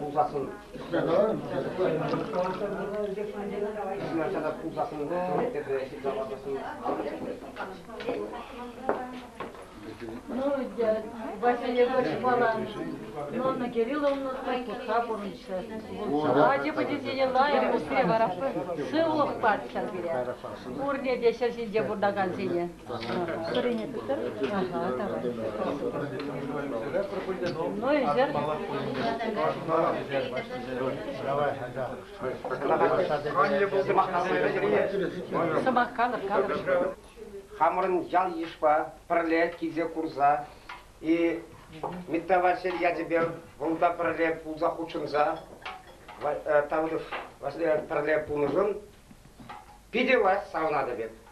Пулсассӑн. Ну, Василий Егорович Балан, Нонна Кирилловна Трикутха пурӑнчӗ. Ачипе тесенеллайӑн пусре вара сывлӑх парччӑр пире. Пурне те ҫӗр ҫинче пурӑнакансене. Хӑрине тыттӑр, малалла тавар. Ну, ӳсер. Сӑмах калӑр, калӑр. Хамӑрӑн ял-йышпа пӗрле килсе курса и Митта Василь ячӗпе вӑл та пӗрле пулса хутшӑнса Тавров пӗрле пулнӑшӑн питӗ лаҫ савӑнатӑп эп.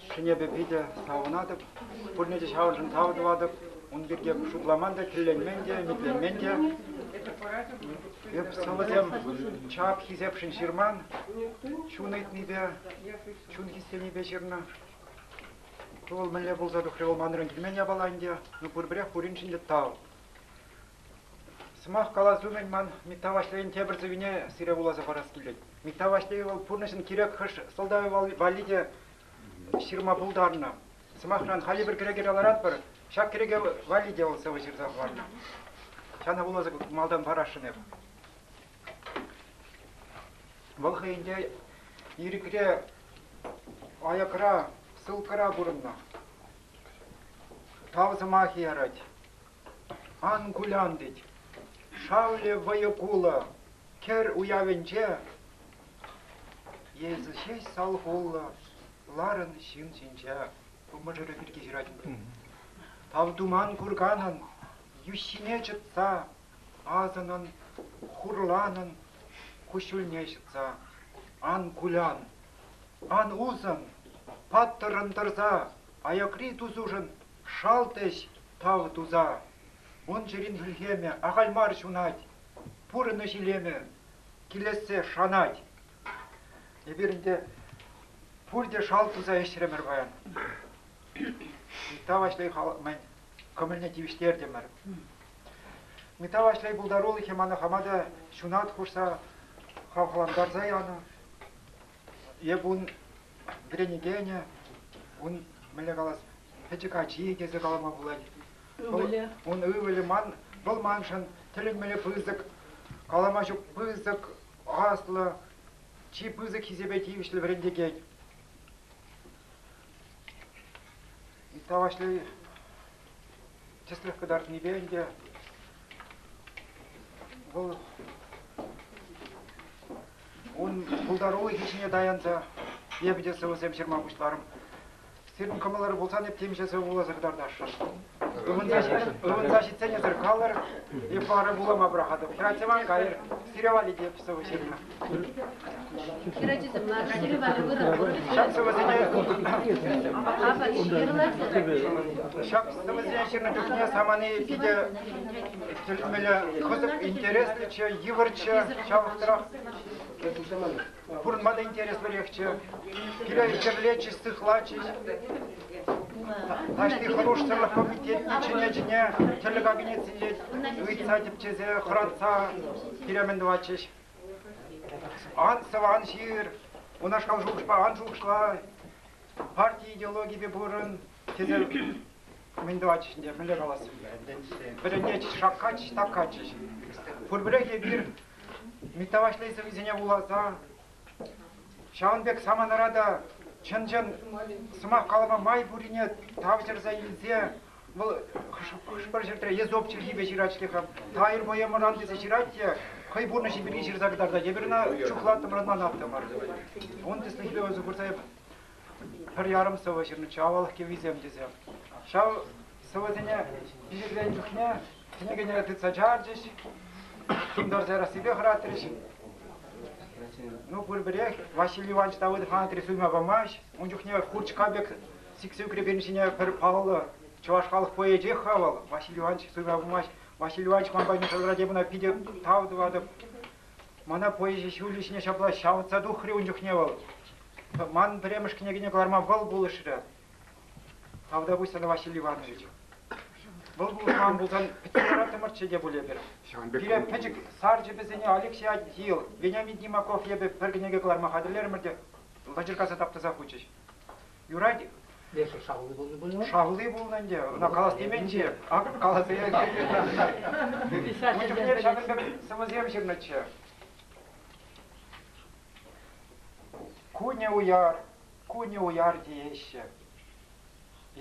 Ҫӗнӗпе питӗ савӑнатӑп, пурне те ҫавӑншӑн тав тӑватӑп. Ун пирки шутламан та, тӗлленмен те, ӗмӗтленмен те. Эп сӑвӑсем чап хисепшӗн ҫырман, чун ыйтнипе, чун хистенипе ҫырнӑ. Ку вӑл мӗнле пулса тухрӗ вӑл манран килмен япала ӗнтӗ. Ну пурпӗрех пуриншӗн те тав. Сӑмах калас умӗн ман Митта Ваҫлейӗн тепӗр сӑввине сире вуласа парас килет. Митта Ваҫлей вӑл пурнӑҫӑн кирек хӑш сӑлтавӗ валли те ҫырма пултарнӑ. Сӑмахран, хальлӗ пӗр кӗреке каларатпӑр, ҫак кӗреке валли те вӑл сӑвӑ ҫырса хӑварнӑ. Ҫана вуласа малтан парасшӑн эп. Вӑл хӑйӗнче ирӗкре, аякра, ссылкӑра пурӑннӑ. Тав сӑмахӗ ярать. Ан кулян тет, шавлӗ вӑйӑ-кулӑ кӗр уявӗнче эсӗ ҫеҫ салхуллӑ ларӑн ҫын ҫинче. Ку мӑшӑрӗ пирки ҫыратӑн. Тав туман курганӑн йӳҫҫине чӑтса, асӑнӑн хурланӑн куҫҫульне ҫӑтса. Ан кулян, ан усӑн, паттӑррӑн тӑрса аякри тусушӑн Шалт ӗҫ тав туса. Ун чӗрин хӗлхемӗ ахаль мар ҫунать, пурӑнӑҫ илемӗ килессе шанать. Эпир ӗнтӗ пурте шалт туса ӗҫрӗмӗр паян. Митта Ваҫлей халӑхмӗн кӑмӑлне тивӗҫтертӗмӗр. Митта Ваҫлей пултарулӑхӗ мана хама та ҫунат хушса хавхалантарса янӑ. Эп ун вӗренекенӗ, ун мӗнле калас, пӗчӗк ачи тесе калама пулать. Ывӑлӗ? Ун ывӑлӗ ман, вӑл маншӑн тӗлӗнмелле пысӑк, калама ҫук пысӑк, аслӑ, чи пысӑк хисепе тивӗҫлӗ вӗрентекен. Ытла Ваҫлей тӗслӗх кӑтартнипе ӗнтӗ вӑл Ун пултарулӑхӗ ҫине таянса эпӗ те сӑвӑсем ҫырма пуҫларӑм. Сирӗн кӑмӑлӑр пулсан эп темиҫе сӑвӑ кӑтартасшӑн. Ывӑнса ҫитсенӗсӗр калӑр, эп вара вулама пӑрахатӑп. Хӗрачасем кайӑр, сире валли те сӑвӑ ҫырнӑ. Хӗрачасем лараканӗ вара вырӑн курӑк. Ҫак сӑвӑсене апат ҫырлать. Ҫак сӑвӑсене ҫырнӑ чухне самани питӗ Тӗлмеле кӑсӑк интереслӗччӗ, йывӑрччӗ, ҫавӑхтарах пурӑнма та интереслӗрехчӗ. Киле хӗрлетчӗҫ, сыхлатчӗҫ. Таҫти хӑрушсӑрлӑх комитетне чӗне-чӗне тӗрлӗ кабинетсенче ыйтса тӗпчесе хӑратса пире-мӗн тӑватчӗҫ. Ан сӑван ҫыр, унашкал шухӑшпа ан шухӑшла. Парти идеологипе пурӑн. Тесе мӗн тӑватчӗҫ ӗнтӗ, мӗнле калассӑм та ӗнтӗ ӗнтӗ. Вӗренетчӗҫ, шаккатчӗҫ, таккатчӗҫ. Пурпӗрех эпир Митта Ваҫлейсӗр вӗсене вуласа, ҫавӑн пек саманара та чӑн-чӑн сӑмах калама май пуррине тавҫӑрса илсе вӑл хӑш-пӗр ҫӗртре Езоп чӗлхипе ҫырать ҫле-ха, Тайр поэмӑран тесе ҫырать те хӑй пурнӑҫӗ пирки ҫырса кӑтартать. Эпир ӑна чухлаттӑмӑр, ӑнланаттӑмӑр. Ун тӗслӗх философ пырса пӗр ярӑм сӑвӑ ҫырнӑччӗ авалах кӗввисем тесе. Ҫав сӑвӑсене пичетленнӗ чухне кӗнекене тытса чарчӗҫ, тумтарса ярассипе хӑратрӗҫ. Ну, пурпӗрех Василий Иванович Давыдов Анатри суйма памасть. Ун чухне курчка пек сиксе ӳкрекенӗ ҫине пӗр паллӑ чӑваш халӑх поэчех-ха вӑл Василий Иванович суйма памасть. Василий Иванович ман патне шӑлтӑрать эп ӑна питӗ тав тӑватӑп. Мана поэзи ҫулӗ ҫине ҫапла ҫавӑтса тухрӗ ун чухне вӑл. Ман пӗрремӗш кӗнекене кӑларма вӑл пулӑшрӗ. Авдовуся Василий Ивановича. Вӑл пулӑшман пулсан пӗтсе лараттӑмӑрччӗ те пуль эпир. Пире пӗчӗк сарчӑпӗсене Алексей Адил, Вениамин Тимаков эпӗ пӗр кӗнеке кӑларма хатӗрлерӗмӗр те лӑчӑркаса таптаса хучӗҫ. Юрать-и? Эсӗ шавли пулнӑ пулӗ? Шавли пулнӑ ӗнтӗ, ӑна калас теменччӗ. Акӑ каласа илет. Ун чухне ҫакӑн пек сӑвӑсем ҫырнӑччӗ. Кунӗ уяр, кунӗ уяр тееҫҫӗ.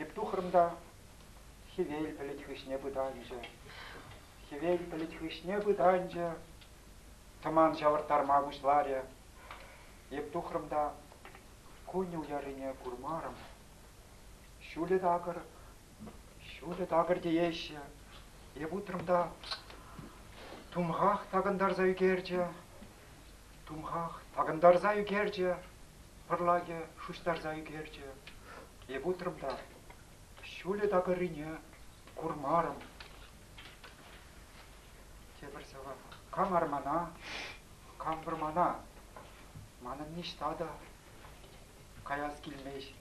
Эп тухрӑм та хӗвел пӗлӗт хыҫне пытанчӗ. Хӗвел пӗлӗт хыҫне пытанчӗ, тӑман ҫавӑрттарма пуҫларӗ. Эп тухрӑм та кунӗ уяррине курмарӑм. Ҫулӗ такӑр, ҫулӗ такӑр тееҫҫӗ. Эп утрӑм та тумхах такӑнтарса ӳкерчӗ. Тумхах такӑнтарса ӳкерчӗ, пӑрлакӗ шуҫтарса ӳкерчӗ. Эп утрӑм та ҫулӗ такӑррине курмарӑм. Тепӗр сӑвӑ. Кам армана, кам вӑрмана. Манӑн ниҫта та каяс килмест.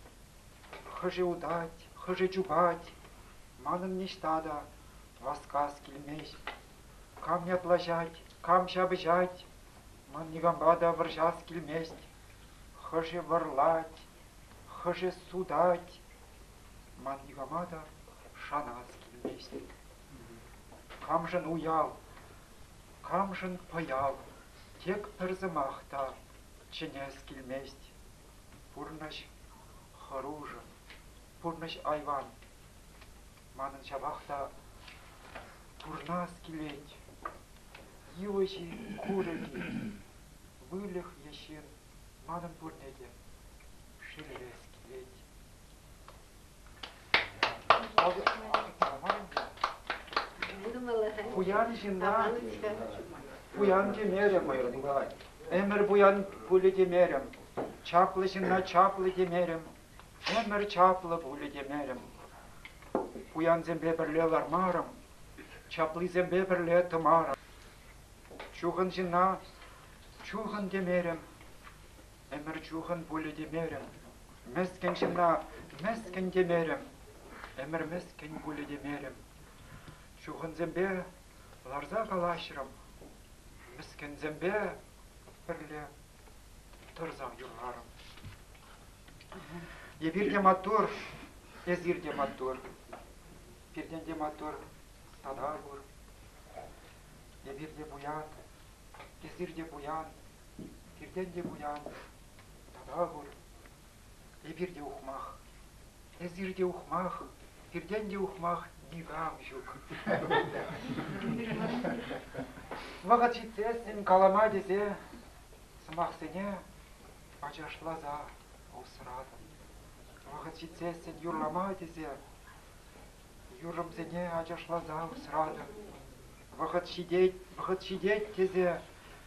Хӑшӗ утать, хӑшӗ чупать. Манӑн ниҫта та васкас килмест. Кам ятлаҫать, кам ҫапӑҫать, ман никампа та вӑрҫас килмест. Хӑшӗ вӑрлать, хӑшӗ сутать, ман никама та шанас килмест. Камшӑн уяв, камшӑн пӑяв, тек пӗр сӑмах та чӗнес килмест. Пурнӑҫ хӑрушӑ, пурнӑҫ айван. Манӑн ҫапах та пурнас килет. Йывӑҫ-и, курӑк-и, выльӑх е ҫын, манӑн пурне те шеллес килет. Пуян ҫынна пуян темерӗм пулать. Ӗмӗр пуян пулӗ темерӗм. Чаплӑ ҫынна чаплӑ темерӗм. Ӗмӗр чаплӑ пулӗ темерӗм. Пуянсемпе пӗрле лармарӑм, чаплисемпе пӗрле тӑмарӑм. Чухӑн ҫынна чухӑн темерӗм, ӗмӗр чухӑн пулӗ темерӗм. Мӗскӗн ҫынна мӗскӗн темерӗм, ӗмӗр мӗскӗн пулӗ темерӗм. Чухӑнсемпе ларса калаҫрӑм, мӗскӗнсемпе пӗрле Тӑрсам юрларӑм. Эпир те маттур, эсир те маттур. Пиртен те маттур тата пур. Эпир те пуян, эсир те пуян, пиртен те пуян тата пур. Эпир те ухмах. Эсир те ухмах. Пиртен те ухмах никам ҫук. Вӑхӑт ҫитсессӗн калама тесе сӑмахсене ачашласа усратӑм. Вӑхӑт ҫитсессӗн юрлама тесе юрӑмсене ачашласа усратӑм. Вӑхӑт ҫитет, вӑхӑт ҫитет тесе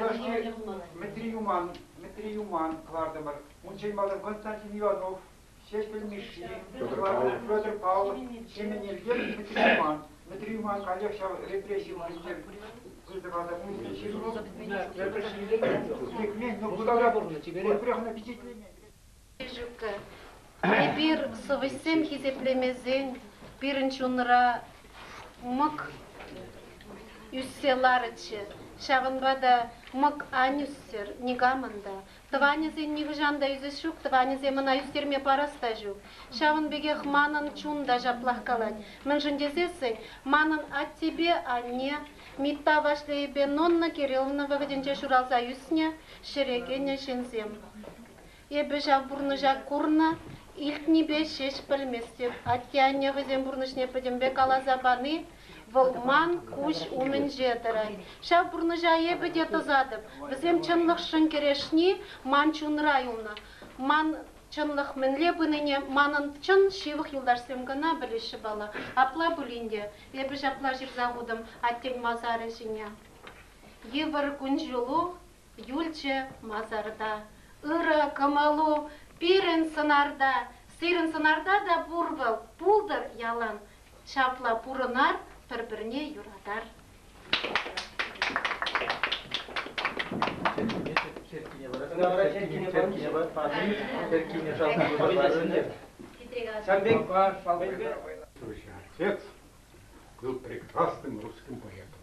Юлашки Мӗтри Юман, Мӗтри Юман кӑлартӑмӑр. Унччен малтан Константин Иванов, Ҫеҫпӗл Мишши, Петр Павлов, Ҫеменевсем Мӗтри Юман. Мӗтри Юман каллех ҫав репресси вырӑнне выртӑва та пулчӗ. Пӗрпӗр ҫилленмен, лекмен, но кунта та пурне чиперех. Пӗрех ӑна пичетлемен. Елчӗккӗ, эпир, сӑвӑҫсем хисеплемесен, пирӗн чунра мӑк ӳссе ларӗччӗ. Ҫавӑнпа та мӑк ан ӳссӗр, никамӑн та, тӑванӗсен нихӑҫан та ӳсес ҫук, тӑванӗсем ӑна ӳстерме парас та ҫук. Ҫавӑн пекех манӑн чун та ҫаплах калать. Мӗншӗн тесессӗн манӑн аттепе анне Митта Ваҫлейӗпе Нонна Кирилловна вӑхӑтӗнче ҫуралса ӳснӗ, ҫӗре кӗнӗ ҫынсем. Эпӗ ҫав пурнӑҫа курнӑ, илтнипе ҫеҫ пӗлместӗп. Атте-анне хӑйсен пурнӑҫне пӗтӗмпе каласа пани вӑл ман куҫ умӗнче тӑрать. Ҫав пурнӑҫа эпӗ те тӑсатӑп. Вӗсем чӑнлӑхшӑн кӗрешни ман чунра юлнӑ. Ман чӑнлӑх мӗнле пынине манӑн чӑн ҫывӑх юлташсем кӑна пӗлеҫҫӗ пала. Апла пулин те эпӗ ҫапла ҫырса хутӑм аттен масарӗ ҫине. Йывӑр кун-ҫулу Юлчӗ масарта. Ырӑ кӑмӑлу пирӗн сӑнарта. Сирӗн сӑнарта та пур вӑл, пултӑр ялан. Ҫапла пурӑнар, пӗр-пӗрне юратар. Черккене вара черккене шалти Ҫавӑн пек шалти Текст был прекрасным русским поэтом.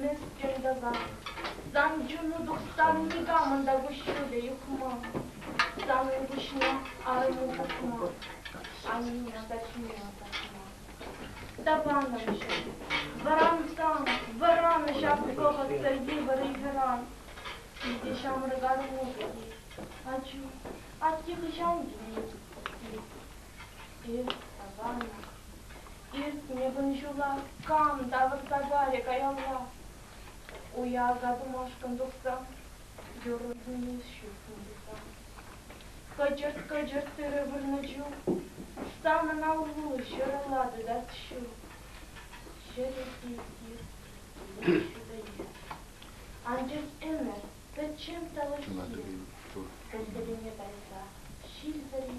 Мӗскӗн тата. Сан чуну тухсан никамӑн та куҫҫулӗ юхма. Санӑн пуҫне арӑму пухма, анне патне пӑхма. Тапанӑмҫӑ, вӑрантам, вӑранӑҫ ак вӑхӑтсӑр йывӑр ыйхӑран. Питӗ ҫамрӑк арму вӗт-и? Ачу, атте хӑҫан килет? Эс, тапанӑм, Иртнӗ кун ҫула кам тавӑрса калӗ каялла? Уява тумашкӑн тухсан юрӑ-тӗнче ҫук пулсан. Кӑчӑрт-кӑчӑрт тырӑ вырнӑ чух станӑн аллу ҫӑрӑллатӑ та ҫу. Ҫӗрӗ тир-тир ҫутӑлет. Анчах ӗмӗр пӗччен тӑлӑххийӗ пӗр-пӗрине тайса ҫилсӗр-и?